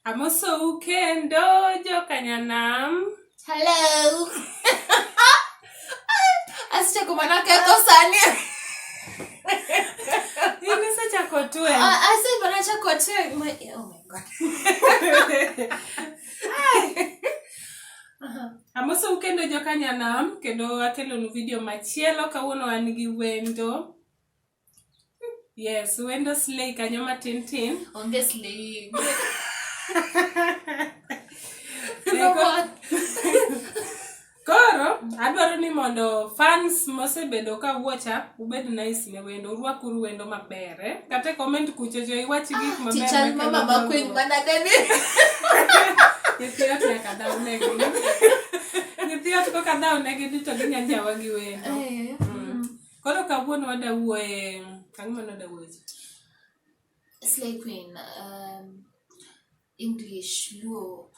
Amosou kendo jokanyanam. Hello. Asichako mana ketho sani. In isechako twe. Ah, Ase mana chako twe. My- Oh my god. Amosou kendo jokanyanam kendo akelonu video machielo kawuono an gi wendo. Yes, wendo slay kanyo matin tin. Onge slay. Koro adwaro ni mondo fans mosebedo ka wuocha ubed nice ne wendo, urwakuru wendo maber. Eh? Kata comment kucho jo iwach gik maber. Chichal mama makwiny mana deni. Nyithiot nyaka dhaw negi. Nyithiot koka dhaw negi to ginya jawa gi wendo. Eh. Koro kawuono wada wuoye ang'o mane wada wuoye? It's like when um, English, Luo,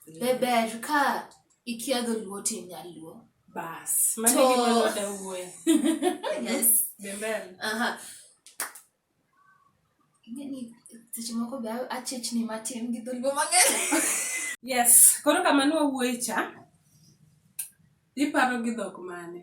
be ber ka ikia dholuo to inyaluo. Bas, mano e gima ne wada wuoye. Yes. Be ber. Aha. Ing'e ni seche moko be a- achechni matin gi dholuo mang'eny. Yes, koro kama ne wawuoye cha, iparo gi dhok mane?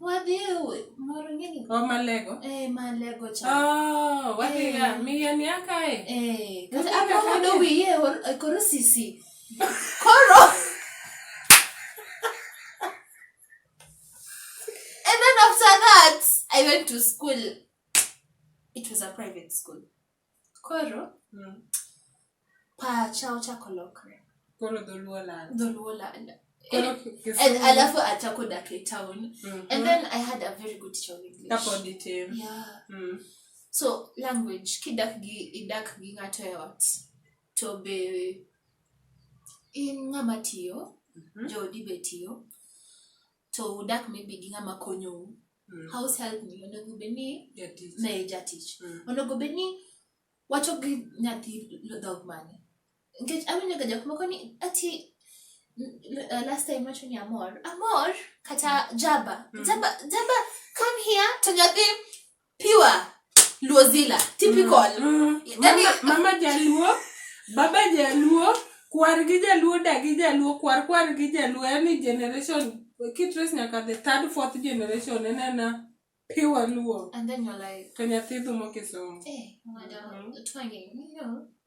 Wadhi moro ngini. O oh, malego. Eh malego cha. Oh, wadhi eh. ya mi ya ni aka e. Eh, kata aka ko do wi ye eh, koro sisi. Koro. And then after that, I went to school. It was a private school. Koro pacha ochako lokre. Koro dholuo lal. Dholuo lal. Koro And Kisumu- alafu achako dak e town. Mhm. And then I had a very good teacher of English. Kapod itin. Yeah. Mm. So language kidak gi idak gi ng'ato e ot to be in ng'ama tiyo Mhm. joodi be tiyo to udak maybe gi ng'ama konyou mm. house help ni onego bed ni ne jatich mm. onego bed ni wacho gi nyathi dhok mane nikech awinjo ga jok moko ni ati uh, last time wacho ni amor amor kata mm. jaba mm. jaba jaba come here to nyathi pure luozila typical mm. mm. mama, mama jaluo baba jaluo kwar gi jaluo da gi jaluo kwar kwar gi jaluo yani generation kitres nyaka the third fourth generation enena pure luo and then you're like to nyathi dhumo kisomo eh, mm.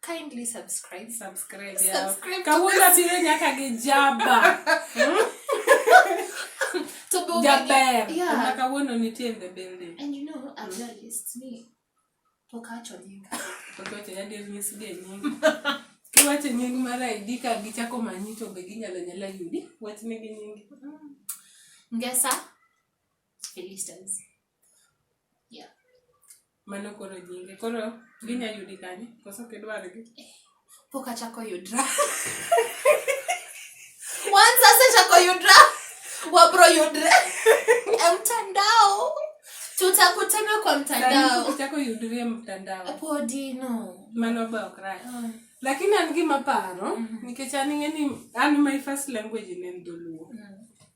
kindly subscribe subscribe subscribe kawuono abiro nyaka gi jaba to be jaber yeah. kawuono nitie in the building and you know a journalist ni pok acho nyinga pok acho nyinga ndio nyisi ge nyinga kiwacho nying mar ID ka gichako manyi to be ginyalo nyala yudi wach nigi nyingi mm. ngesa felistans mano koro nyinge koro ginya yudi kanye koso ok idwargi pok achako yudra once asechako yudra wabro yudre e mtandao tutakutana kwa mtandao chako yudri e mtandao podi no mano be ok rach ah. lakini an gima paro mm-hmm. nikech an ing'e ni an my first language ne en dholuo mm.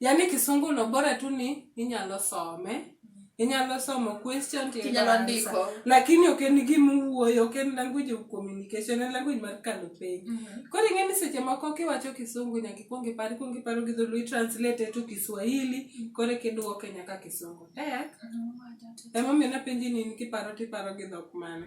Yaani kisungu no bora tu ni inyalo some. Inyalo somo question to inyalo ndiko. Lakini ok en gima uwuoyo, ok en language of communication, en language mar kalo piny. Mm -hmm. Koro ing'e ni seche moko kiwacho kisungu nyaka ikwong ipar, ikwong iparo gi dholuo, itranslate to Kiswahili, mm -hmm. koro eka iduoke nyaka kisungu. Tek. Mm -hmm. Emomiyo napenji ni in kiparo tiparo gi dhok mane.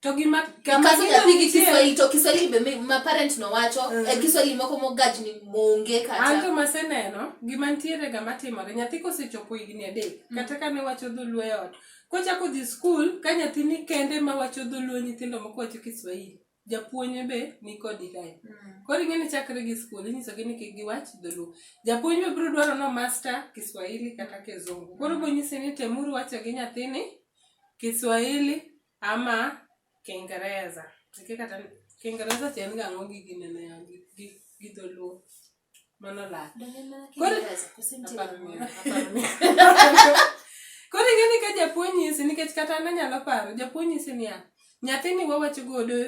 To gima kama Ikaso gino nyathi gi nitie- Kiswahili to Kiswahili be mi- ma parent no wacho Mm. e Kiswahili moko mogaj ni monge an kata. to maseneno gima nitiere ga matimore nyathi kosechopo higni adek kata kane wacho dholuo e ot kochako dhi skul ka nyathi ni kende ma wacho dholuo nyithindo moko wacho kiswahili japuonj be ni kodi kae koro ing'e ni chakre gi skul inyisogi ni kik giwach dholuo japuonj be biro dwaro no master kiswahili kata kizungu koro bonyisi ni temuru wacho gi nyathini kiswahili ama kingereza eke kata kingereza to en ga ang'o gi ginene ya gi- gi- gi dholuo mano lal Koro- koro ing'eni ka japuonj nyisi nikech kata an anyalo paro japuonj nyisi niya nyathini wawacho godo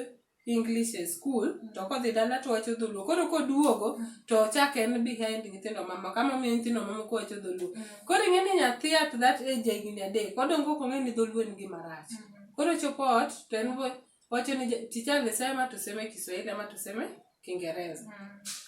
English e skul mm. to kodhi dala to wacho dholuo koro koduogo mm. to ochak en behind nyithindo mamoko ama miyo nyithindo mamoko wacho dholuo mm. koro ing'e ni nyathi at that age higni adek odongo ok ong'e ni dholuo en gima rach koro chopo ot to en wacho ni ticha alisema tuseme kiswahili ama tuseme kingereza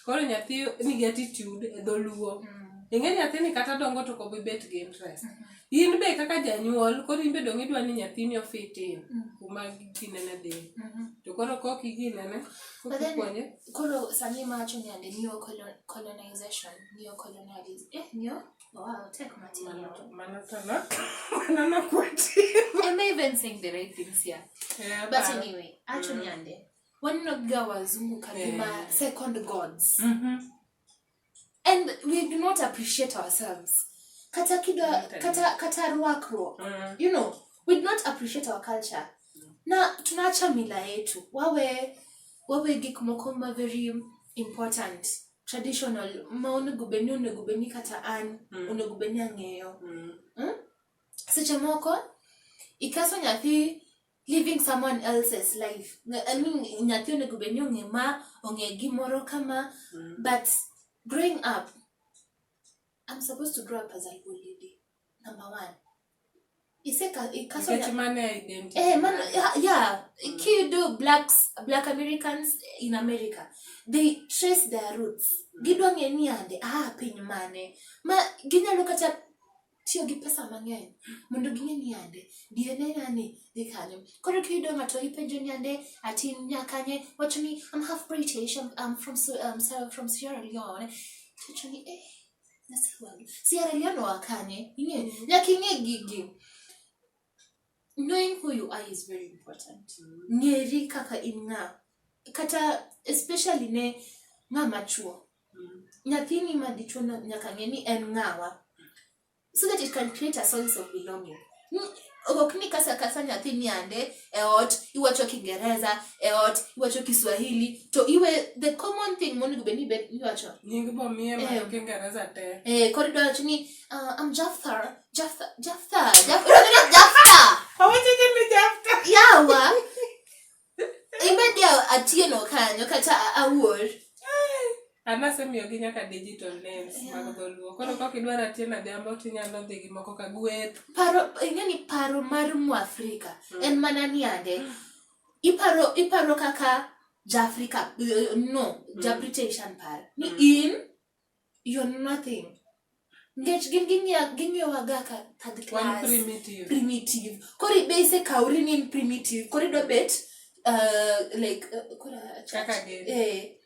koro nyathi nigi attitude e dholuo ing'e nyathini kata dongo to kobibet gi interest in be kaka janyuol koro in be dong idwa ni nyathini ofitin mm. kuma ginene dhi mm-hmm. to koro kok iginene kokipuonje koro sani mawacho ni ande neo colonization neo colonialism eh neo Wow, take my tea. Manatana. Manana kwati. I'm even saying the right things here. Yeah, but man. anyway, actually mm. ande. Waninoga wazungu kagima yeah. second gods. Mm -hmm. and we do not appreciate ourselves kata kido Okay. kata kata rwakruok Mm. you know we do not appreciate our culture na tunaacha mila yetu wawe wawe gik moko ma very important traditional ma onego beni onego beni kata an Mm. onego beni ang'eyo Mm. seche moko ikaso nyathi living someone else's life Nga- I mean, nyathi onego bed ni ong'e ma ong'e gimoro kama Mm. but growing up i'm supposed to grow up as a cool lady number one iseka ikaso Nikech mano e identity. Eh, man, yeah, yeah. Kido blacks, black Americans in America, they trace their roots. Gidwa ng'e ni ande, ah, piny mane. Ma, ginyalo kata tiyo gi pesa mang'eny mondo ging'e ni yande DNA nani dhi kanyo. Koro kiyudo ng'ato ipenjo ni yande ati in nya kanye, wacho ni I'm half British, I'm, I'm from, Su- um, Sierra- from Sierra Leone. Tiwacho ni eh, Nyasaye wangu. Sierra Leone wa kanye? Ing'e, nyaka ing'e gigi. Knowing who you are is very important. Ng'eri kaka in ng'a. Kata especially ne ng'a machuo. Nyathini ma dichuo no nyaka ng'e ni en ng'awa so that he can create a sense of belonging. Ok ni kasa kasa nyathi niande e ot iwacho Kiingereza, e ot iwacho Kiswahili to iwe the common thing monego bed ni ibed iwacho. Nying bomiye ma Eh. Kiingereza te. Eh, koro idwa wacho ni uh, I'm Jafthar, Jafthar, Jafthar, Jafthar, Jafthar. Awacho ni Jafta. Yawa. Imedi atieno kanyo kata awuor. Anasemiyogi nyaka digital names mag dholuo. Koro kok idwaro atieno adhiambo tinyalo dhi gi moko ka gweth. Paro ing'e ni paro mar Mwafrika mm. en mana ni ande. Mm. Iparo iparo kaka Jaafrika no, mm. Jabritish paro ni in you're nothing nikech gin ging'iyowaga ka third class primitive koro ibe isekawri ni in primitive koro idwa bet uh, like uh, eh.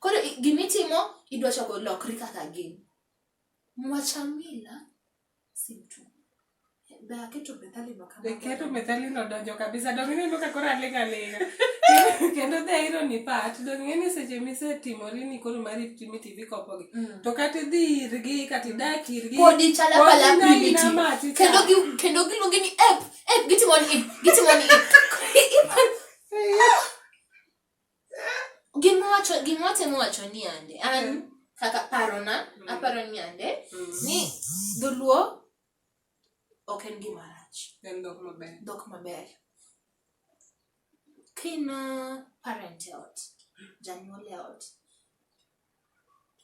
koro gimitimo idwa chako lokri kaka gin mwachamila Be aketo methalino kama? Be keto methalino donjo kabisa. Donge ineno ka koro aling' aling'a. Kendo the irony part, donge ing'e ni seche misetimori ni koro mari timi TV kopogi. Mm. To kata idhi irgi, kata idak irgi. Pod ichalo pala primitive. Kendo gi kendo giluonge ni app, app gitimo ni, gitimo ni. Gimwacho gimwatemo wacho ni ande an Mm. kaka parona Mm. aparo ni ande Mm. ni dholuo ok en gima rach En dhok maber. dhok maber kina parent e ot janyuol e ot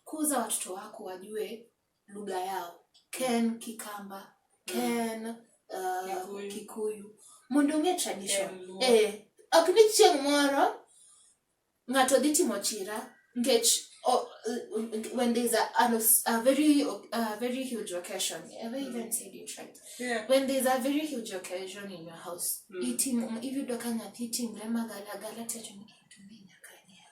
kuza watoto wako wajue lugha yao ken kikamba ken uh, kikuyu mondo ong'e tradition eh, ok ni chieng' moro ng'ato dhi timo chira nikech oh, when there's a, a, a very a very huge occasion have I even said it right yeah. when there's a very huge occasion in your house mm. itim iyudo ka nyathi timre magalagala tiwacho ni tumbe nyaka nyiew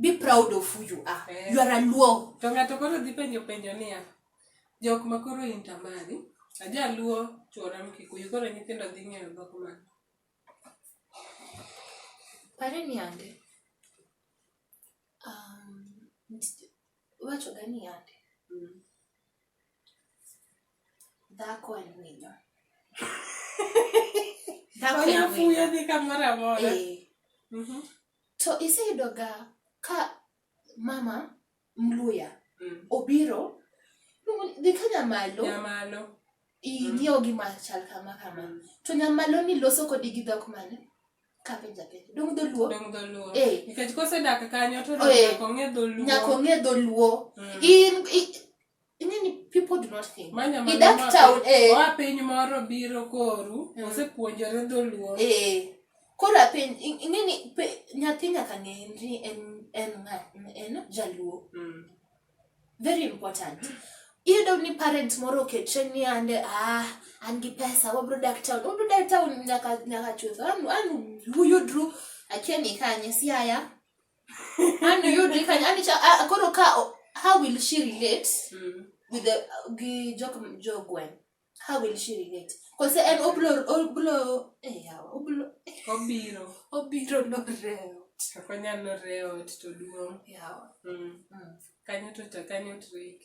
be proud of who you are Eh. you are a luo to ng'ato koro dhi penjo penjo niya jok ma koro intamari ajaluo chuora mkikuyu koro nyithindo dhi ng'eyo dhok ma pare ni ande um, wacho ga ni ande Mm. dhako en winyo dhako en winyo onyafuyo dhi kamoro amora Eh, Mhm. To iseyudoga ka mama mluya Mm. obiro luongo ni, dhi ka nyamalo Nyamalo. ing'iew gima chal kama kama Mm. to nyamalo ni loso kodi gi dhok mane kapenja penja dong dholuo Dong dholuo. Eh. Nikech kosedak kanyo to Oh, eh. nyaka ong'e dholuo. nyaka ong'e dholuo Mm. in i- Ing'eni people do not think. Manya He that mama- town, eh. Oa piny moro biro koru, Mm. osepuonjore dholuo. Eh, koro apenj, in- ing'eni pe- nyathi nyaka ng'e ni en en ng'a- en jaluo. Mm. Very important. Iyudo ni parent moro oketre ni ande ah an gi pesa wabro dak town. Wabro dak town nyaka nyaka chuth. An an uyudru akia ni kanye siaya. koro ka how will she relate mm. with the gi jok jogwen how will she relate kose en oblo oblo eh yawa oblo obiro obiro no reo kako nyalo reo to duong yawa mm. mm. kanyo to to kanyo trick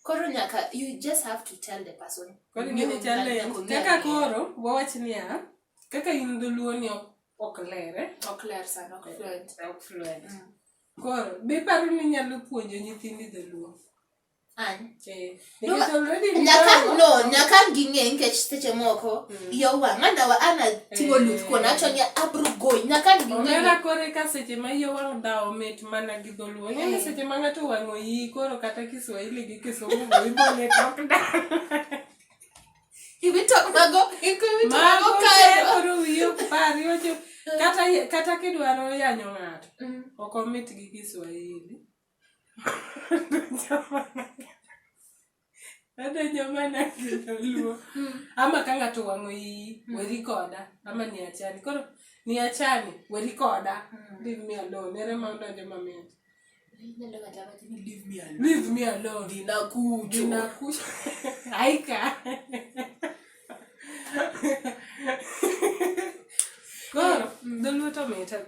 koro nyaka you just have to tell the person koro ngene challenge kaka koro wawach niya kaka in dholuo ni ok ler eh? ok ler sana ok fluent ok fluent mm. koro be paro ni nyalo puonjo nyithindi dholuo nyaka ging'e nikech seche moko mm. yo wang' anawa ana timo eh. luth kuon acho ni abro goyi nyaka ging'eomera kore ka seche ma yo wang' dhawo mit mana gi dholuo ng'eni eh. seche ma ng'ato wang'o yi koro kata kiswahili gi kisungu ibo ne tok dal iwito mago iwito mago koro wiyo pari wacho kata kata kidwaro yanyo ng'ato mm. ok omit gi Kiswahili adonjo mana gi luo mm. ama ka ng'ato wang'o iyi mm. weri koda ama ni achani koro ni achani weri koda leave me alone ere ma odonjo mamit Leave me alone. Ninakuja. Ninakuja. Aika. Koro dholuo to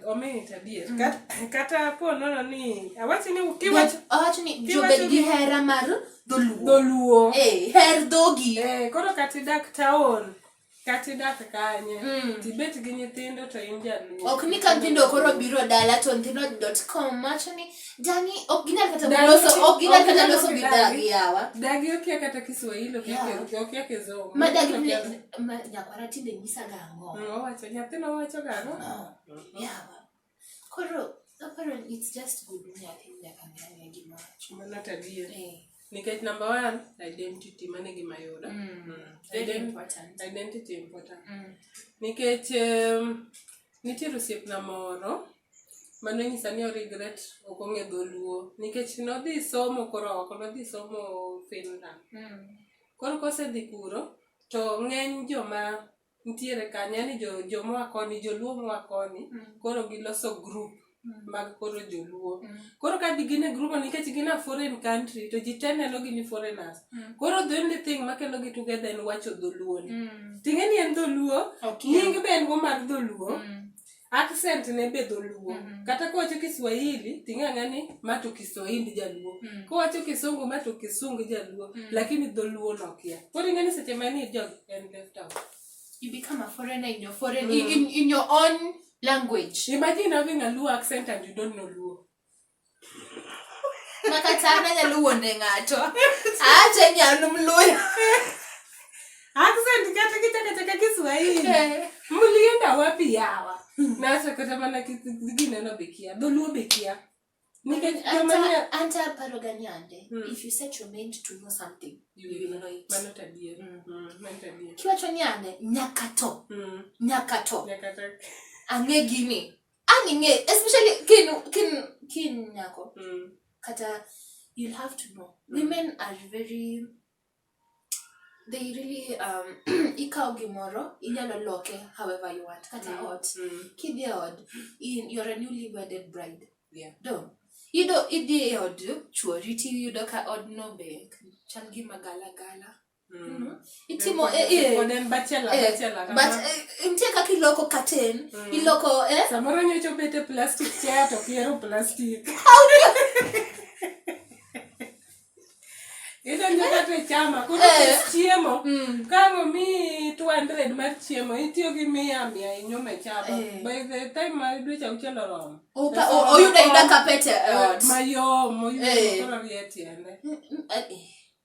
omiyo tabia. Mm. Kata po nono ni awachi ni kiwach awachi ni jobed gi hera mar dholuo. Dholuo. Eh, her dhogi. Eh, koro kati dak taon. kata idak kanye mm. tibet gi nyithindo to in jaluo ok ni ka nyithindo koro biro dala to nyithindo dot com macho ni dani ok ginyal kata loso ok ginyal kata loso gi dagi yawa dagi okia kata kiswahili okia yeah. okia kizungu ma dagi ne ma nyakwara tinde nyisa gango mm, owacho nyathino owacho gango oh, yawa Koro aparo ni it's just good ni nyathi nyaka ng'ane gima wacho. Mano to adier. Eh, Nikech number one, identity mano e gima yudo. Mm. Mm. very Ident- important. Identity important. Mm. Nikech em, nitiere osiepna moro mano nyisa ni oregret ok ong'e dholuo nikech nodhi somo koro oko nodhi somo Finland. Mm. Koro kosedhi kuro to ng'eny joma nitiere kanyo yani jo, jo moa koni joluo moa koni mm. koro giloso group mm. mag koro joluo mm. koro ka gin e grupo nikech gin a foreign country to ji te neno gi ni foreigners mm. koro the only thing makelo gi together en wacho dholuo ni mm. ting'e ni en dholuo okay. nying be en go mar dholuo mm. accent ne be dholuo Mhm. kata kowacho kiswahili ting'ang'a ni ma to kiswahindi jaluo Mm. kowacho kisungu ma to kisungu jaluo Mm. lakini dholuo nokia koro ing'e ni seche manie jog en left out You become a foreigner in your foreign, Mm. in, in your own language. imagine having a luo accent and you don't know luo makatana nyalo wuonde ng'ato acha nyalo mluya accent kata kichakachaka kiswahili eh. mlienda wapi yawa hmm. nacha kata mana gineno bekia dholuo bekia anta paro gani ande hmm. if you set your mind to know something you will know it mano tadier hmm. kiwacho ni ande nyaka to nyaka to ang'e gini Ani nge, especially kin kin kin nyako. Mm. Kata you'll have to know. Mm. Women are very they really um ikawo gimoro inyalo loke however you want kata mm. ot mm. kidhi e od you're a newly wedded bride yeah. do idhi e od chuori tiyudo ka odno be chal gima galagala Mm. itimo eh, eh, eh, nitie kaka iloko katen mm. iloko samoro nyocho bete plastic chair to piero plastic idonjo kata e chama koro chiemo mm. kang'o mi 200 mar chiemo itiyo gi mia mia inyume chama by the time ma dweche auchiel oromo oyudo ayuda kapete mayom oyudo koro rie tiende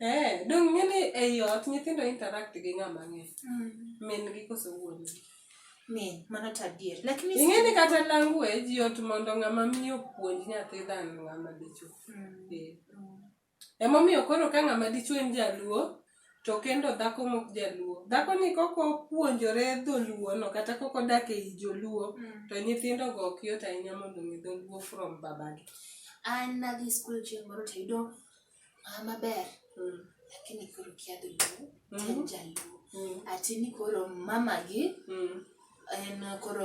Eh, dong' ng'e ni ei ot nyithindo interact gi ng'ama ng'e. Mm. Min gi koso wuon gi. Min, mano to adier. Lakini Ing'e ni kata language yot mondo ng'ama miyo puonj nyathi than ng'ama dichwo. Mm. Eh. Emomiyo koro ka ng'ama dichwo en jaluo, to kendo dhako mok jaluo dhako ni koko puonjore dholuo no kata koko dak ei joluo mm. to nyithindo go ok yot ahinya mondo mi dholuo from babagi an nadhi skul chieng' moro to yudo ah, maber mm. lakini koro kia dholuo mm. ten jaluo mm. atini koro mamagi mm. en koro